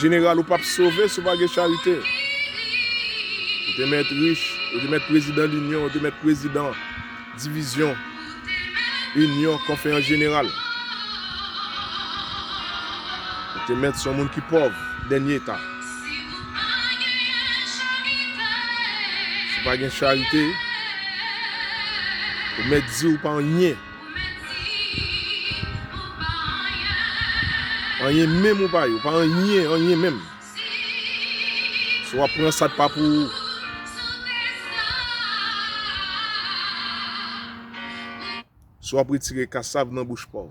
Jeneral ou pap sove si w pa gen charite. Ou te mèt rich, ou te mèt prezidan linyon, ou te mèt prezidan divizyon, inyon, konfeyans jeneral. Ou te mèt son moun ki pòv, dènye eta. Si w pa gen charite, ou mèt di ou pa anyen. Anyen menm ou pa ye, ou pa anyen, anyen menm. Si w ap pran sa k pa pou ou. Si w ap retire kasav nan bouch pòv.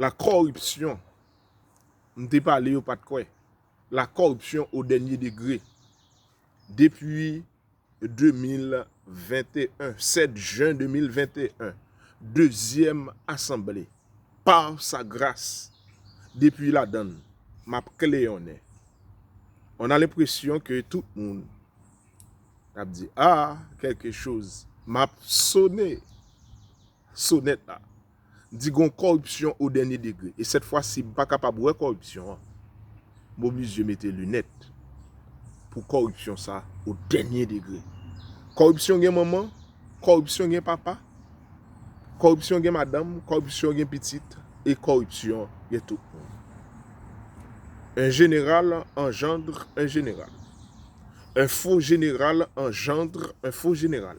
La kòripsyon, m te pale yo pat kwè. La kòripsyon o dènye degre. Depi 2021, 7 jen 2021, dezyèm asanble, par sa gras, depi ladan l, m ap kleyonnen. On a lenpresyon ke tout moun ap di, ah, kèlke choz, m ap sone sonèt la. di gon kòripsyon o dènye degre e sèt fwa si m pa kapab wè kòripsyon an m oblije mete linèt pou kòripsyon sa o dènye degre. Kòripsyon gen manman, kòripsyon gen papa, kòripsyon gen madanm, kòripsyon gen pitit e kòripsyon gen tout moun. Un general engendre un general. Un faux general engendre un faux general.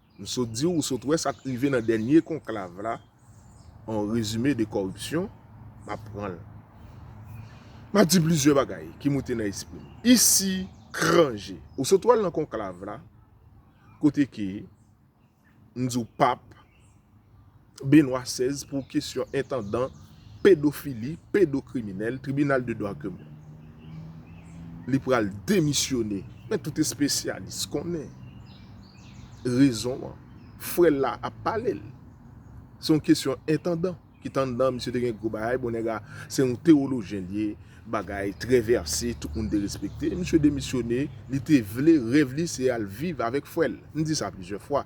M sot di w, ou sot wè sa k rive nan dènye konklav la, an rezime de kòripsyon, m ap pran l. M ap di plizyè bagay ki moute nan espri m. Isi, kran je. Ou sot wè l nan konklav la, kote ke m di w pap. Benoît xvi pou kesyon entandan, pedofili, pedokriminèl, tribinal de dwa kèm li pral demisyone. Men tout espesyalis konnen rezon an. Frè l la ap pale l. Se yon kesyon entandan ki te anndan, misye te gen gwo bagay, bon nèg la se yon tewolojyen li ye, bagay trè vèse, tout moun te respekte, misye demisyone, li te vle, rèv li se al viv avèk frè l. M di sa plizyè fwa.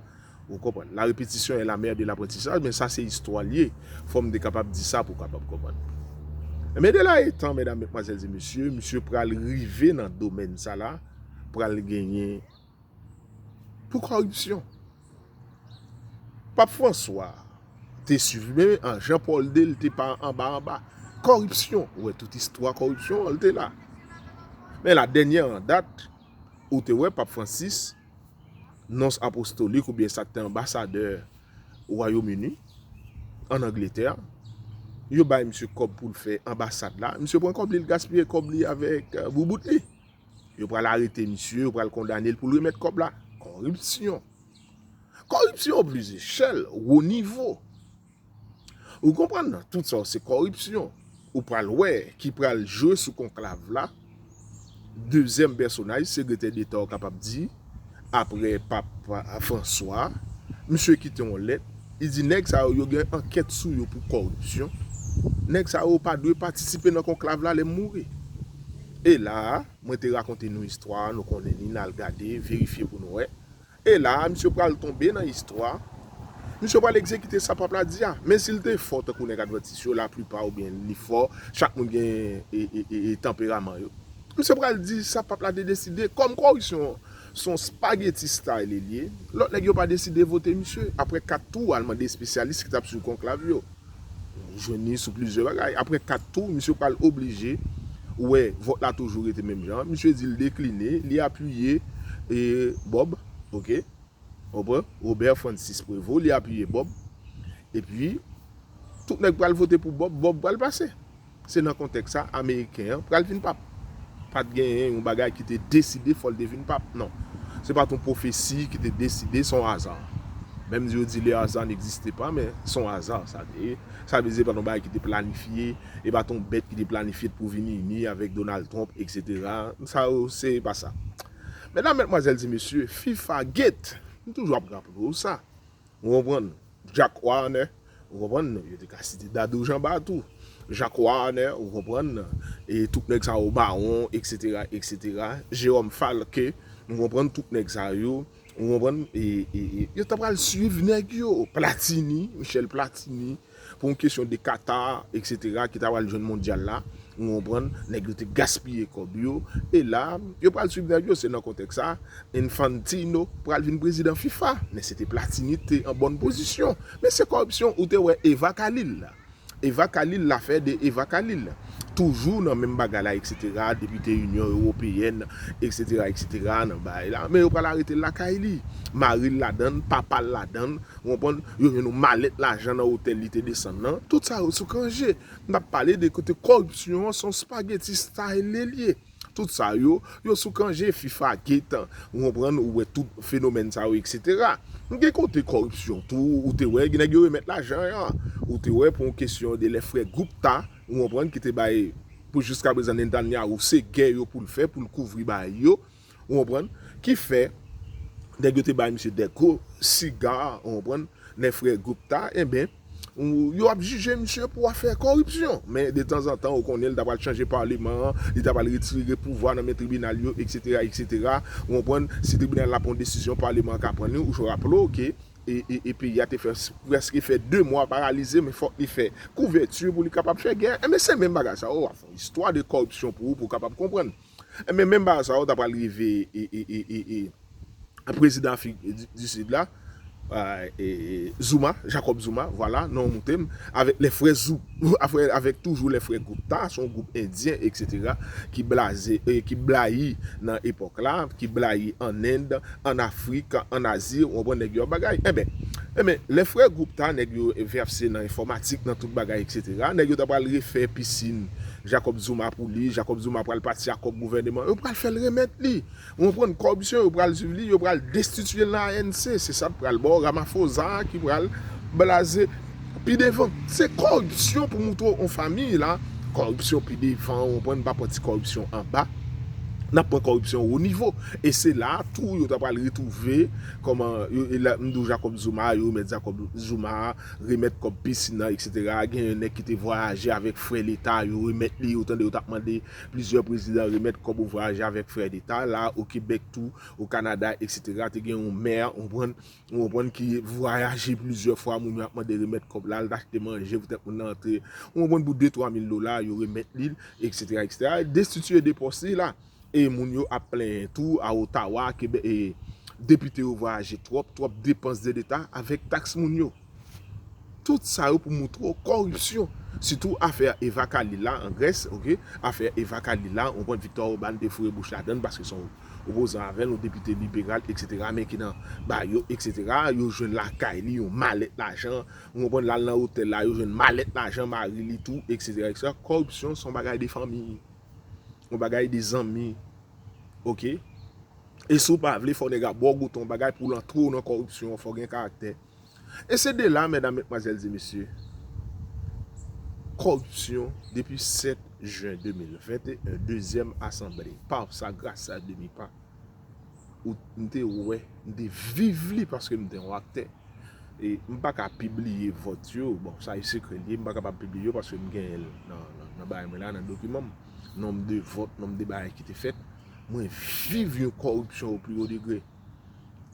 Ou konprann. La répétition est la mère de l'apprentissage men sa se istwa l ye. Fò m te kapab di sa pou w kapab konprann. Enben de la etan medam, metmwazèl e mesye, misye pral rive nan domèn sa la pral genyen pou kòripsyon. Pap Franswa te swiv men an Jan Pòl ii l te pa anba anba kòripsyon. Ou wè tout istwa kòripsyon an l te la. Men la dènyè an dat ou te wè Pap Fransis. nons apostolik oubyen sa k te anbasadè Wayom Ini ann Angletè, yo bay misye kòb pou l fè anbasad la, misye pran kòb li, l gaspiye kòb li avèk boubout li. Yo pral arete misye, yo pral kondane l pou l remèt kòb la. Kòripsyon! Kòripsyon plizyechèl, wo nivo. Ou konprann nan, tout sa yo se kòripsyon. Ou pral wè ki pral jwe sou konklav la, dezyèm pèsonaj Segretè Deta ou kapab di, aprè Pap Franswa, misye kite yon lèt, li di nèg sa yo, yo gen ankèt sou yo pou kòripsyon, nèg sa yo pa dwe patisipe nan konklav la lè m mouri. E la a, mwen te rakonte nou istwa a, nou konnen li, n al gade, verifye pou nou wè, E la a, misye pral tonbe nan istwa, misye pral egzekite sa pap la di a. Men si l te fò tankou nèg advantis yo, laplipa ou byen li fò, chak moun gen e tanperaman yo. Misye pral di sa pap la te deside, kòm korisyon se yon spageti style li ye, lòt nèg yo pa deside vote misye, aprè 4 tou al mande espesyalis ki t ap swiv konklav yo. Ou jwenn li sou plizyè bagay. Apre 4 tou, misye pral oblije wè vòt la toujou rete menm jan. Misye di l dekline, li apiye Bob, ok. Konpran? Robert Francis Prévot, li apiye Bob. Epi, tout nèg pral vote pou Bob, Bob pral pase. Se nan kontèks sa, ameriken an pral vin pap. Pa t gen yon bagay ki te deside fò l te vin pap, non. Se pa t yon pwofesi ki te deside, s on aza. Menm si yo di le hasard n'existe pas, men s on aza sa te ye. Sa vle di se pa t yon bagay ki te planifye, e pa t yon bèt ki te planifye pou vin ini avèk Donald Trump, eksetera. Sa yo se pa sa. Medam, Medmwazèl, ti mesye, fifa gate, m toujou ap raple w sa, Ou konprann? Jack Warner, ou konprann? Yo te ka site Dadou Janba tou. Jack Warner, ou konprann? E tout nèg sa yo, Bawon, eksetera, eksetera. Jérôme Falque, ou konprann? Tout nèg sa yo, ou konprann? E, e, e, yo ta pral suiv nèg yo. Platini, Michel Platini. Pou yon kesyon de Qatar etc ki ta pral jwenn mondyal la ou konprann nèg yo te gaspiye kòb yo e la yo pral swiv nèg yo se nan kontèks sa Infantino pral vin prezidan fifa men se te Platini te an bòn pozisyon men se kòripsyon ou te wè Eva Khalil la Eva Khalil lafè de Eva Khalil toujou nan menm bagay la etc depite Inyon Ewopeyèn etc etc nan bay la men yo pral aretel lakay li maril ladann papal ladann Ou konprann? Yo jwenn yon malèt lajan nan otèl li te desann nan. Tout sa yo sou Cangé. N ap pale de kote kòripsyon an se yon spaghetti style li ye. Tout sa yo, yo sou Cangé, fifa, getan. Ou konprann? Ou wè tout fenomèn sa yo eksetera. Gen kote kòripsyon tou, ou te wè gen nèg yo remèt lajan an. Ou te wè pou yon kesyon de lè frè Gupta, ou konprann, ki te bay pou jiskaprezan Netanyahu se gè yo pou l fè pou l kouvri bay yo. Ou konprann? Ki fè, nèg yo te bay misye de gwo siga, ou konprann, les frères Gupta, enben, yo ap jije misye pou afè kòripsyon. Men, de tanzantan, ou konnen, li ta pral chanje paleman an, li ta pral retire pouvwa nan men tribinal yo, eksetera, eksetera. Ou konprann? Si tribinal la pran yon desizyon, paleman an ka pran li. Ou jwe raple w ke e peyi a te fè prèske fè de mwa paralize, men fòk li fè kouvèti pou li kapab fè gè. Enben, se menm bagay sa a. Ou ap fè yon istwa de kòripsyon pou ou, pou ou kapab konprann. Enben menm bagay sa yo ta pral rive prezidan afrik di sid la Zuma, Jacob Zuma, vwala non an moute m, avèk lè frè zou, avèk toujou lè frè Gupta, se yon gwoup endyen eksetera ki blaze, ki blayi nan epòk la, ki blayi an end, an afrik, an azi, ou konprann nèg yo ap bagay. Enben, enben lè frè Gupta nèg yo vèse nan enfòmatik, nan tout bagay eksetera, nèg yo ta pral refè pisin Jacob Zuma pou li, Jacob Zuma pral pati ak kòb gouvèneman, yo pral fèl remèt li, ou konprann, kòripsyon yo pral swiv li, yo pral destitiyel nan ANC, se sat pral baw Ramaphosa ki pral blaze pi devan, se kòripsyon pou moutre on famiy la, kòripsyon pi devan, ou konprann, pa pran ti kòripsyon anba, nap pran kòripsyon wo nivo, e se la tou yo ta pral retwouve kòman, e la mdi w Jacob Zuma, yo remèt Jacob Zuma. remèt kòb pisin nan etc gen yon nèg ki te vwayaje avèk frè leta yo remèt li ou tande yo tap mande plizyè prezidan remèt kòb ou vwayaje avèk frè leta la o kebèk tou o kanada etc te gen yon mè ou konprann ou konprann ki vwayaje plizyè fwa moun yo ap mande remèt kòb la al t achte manje poutèt moun nan antre ou konprann pou de twa mil dola yo remèt li l etc etc destitye de pòs li la. E moun yo ap plenyen tou a Ottawa ke depite yo vwayaje twòp, twòp depans de leta avèk taks moun yo. Tout sa yo pou moutre w kòripsyon. Sitou afè Eva Kaili la an Grès, ok, afè Eva Kaili la, ou konprann Victor Oban te foure bouch ladan l paske se yon opozan avè l, yon depite liberal eksetera men ki nan ba yo eksetera, yo jwenn lakay li yon malèt lajan, ou konprann, l al nan otèl la yo jwenn malèt lajan mari li tou eksetera eksetera. Kòripsyon se yon bagay de fanmi. Yon bagay de zanmi ok e si w pa vle fò nèg la baw goute yon bagay pou l antre w nan kòripsyon fò w gen karaktè e se de la mèdam mètmwazèl di mesye kòripsyon depi 7 jen 2021 dezyèm asanble pa sa grasa demi pa. m te wè, m te viv li paske m te yon aktè. E m pa ka pibliye vòt yo, bon sa e sekrè li, m pa kapab pibliye yo paske m genyen l nan bagay mwen la, nan dokiman m. Nonm de vòt, nonm de bagay ki te fèt. Mwen viv yon kòripsyon o pli wo degre.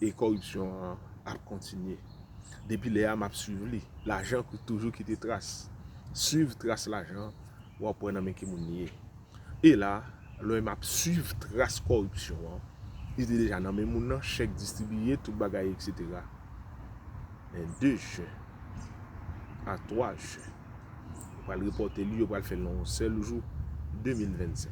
E kòripsyon an ap kontinye. Depi lè a m ap swiv li. Lajan toujou kite tras. Swiv tras lajan. wap wè nan men ki moun li ye. E la, lè w ap swiv tras kòripsyon an, li te deja nan men moun nan, chèk distribiye, tout bagay etc. Men 2 jen, a 3 jen, yo pral repòte li, yo pral fè l nan yon sèl jou, 2025.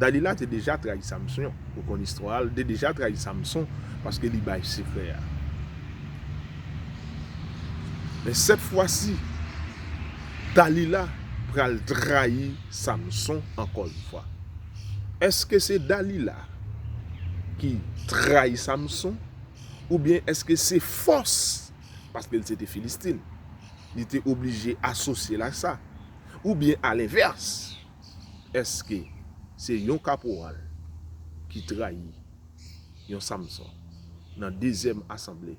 Dalila te deja trayi Samson ou konn istwa a li te deja trayi Samson paske li bay sekrè a men sèt fwa si Dalila pral trayi Samson ankò yon fwa èske se Dalila ki trayi Samson oubyen èske se fòs paske li se te Filistin li te oblije asosye l ak sa oubyen alenvès. Eske se yon kaporal ki trayi yon Samson nan dezyèm asanble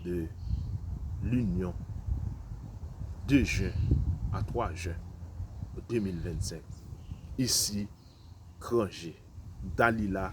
de linyon 2 jen a 3 jen 2025 isi Kranje Dalila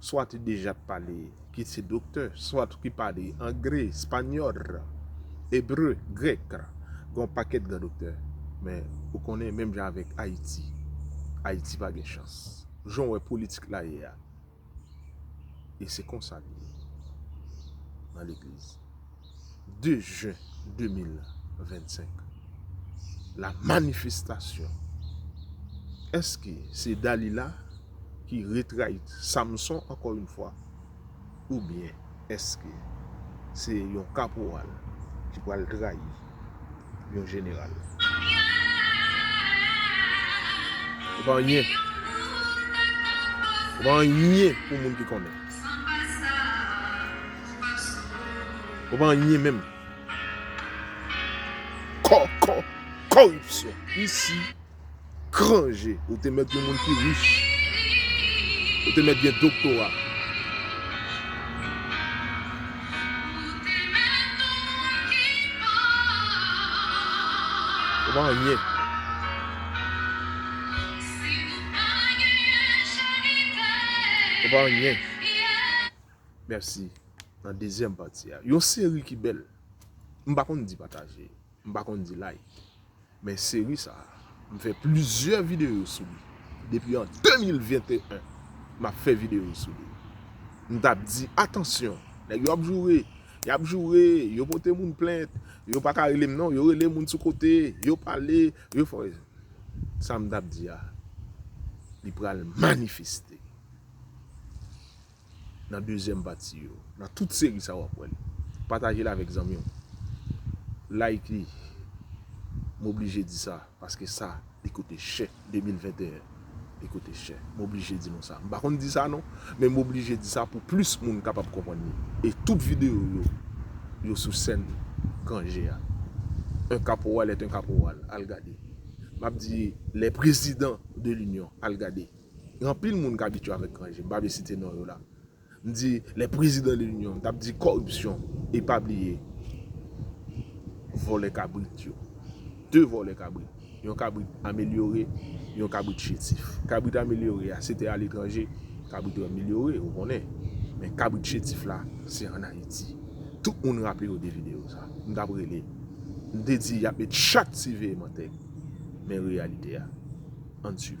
swa te deja pale, ki se doktè, swa ki pale angle, espanyòl, ebre, grèk, gen yon pakèt gran doktè. Men, ou konnen, menm jan avèk Ayiti, Ayiti pa gen chans. Jan w wè politik la ye a, e se konsa l ye nan legliz. 2 jen 2025 la manifestasyon eske se Dalila ki retrayit Samson ankò yon fwa oubyen eske se yon kaporal ki pral trayi yon jeneral. Ou pa anyen. Ou pa anyen pou moun ki konnen. Ou pa anyen menm. Kò, kò, kòripsyon. Isi. Gran je, ou te mèt yon moun ki rich. Ou te mèt gen doktora. Ou pa anyen. Ou pa anyen. Mèsi. Nan dezyèm pati a. Yon seri ki bèl. M pa konn di pataje. M pa konn di like. Men seri sa, m fè plizyè videyo sou li. Depi an 2021, m ap fè videyo sou li. M t ap di, atansyon, nèg yo ap joure, y ap joure, yo pote moun plent, yo pa ka rele m non, yo rele moun sou kote, yo pale, yo fè. Sa m t ap di a, li pral manifeste. nan dezyèm pati yo. Nan tout seri sa wap wèl. Pataje l avèk zanmi w. Like li. M oblije di sa paske sa li koute chè 2021 li koute chè. M oblije di nou sa. M pa konn di sa non men m oblije di sa pou plis moun kapab konprann li. E tout videyo yo yo sou sèn Kanje a. Un caporal est un caporal al gade. Map di les presidents de l'union al gade. Gen anpil moun k abitye avèk gran je, m pa vle site non yo la. M di les présidents de l'union, m t ap di kòripsyon e pa bliye vòlè kabrit yo. 2 vòlè kabrit, yon kabrit amelyore, yon kabrit chetif. Kabrit amelyore a se te aletranje, kabrit yo amelyore ou konnen. Men kabrit chetif la se an Ayiti. Tout moun raple yo de videyo sa. M t ap rele, m te di y ap met chat siveye mantèg. Men reyalite a. Ann swiv.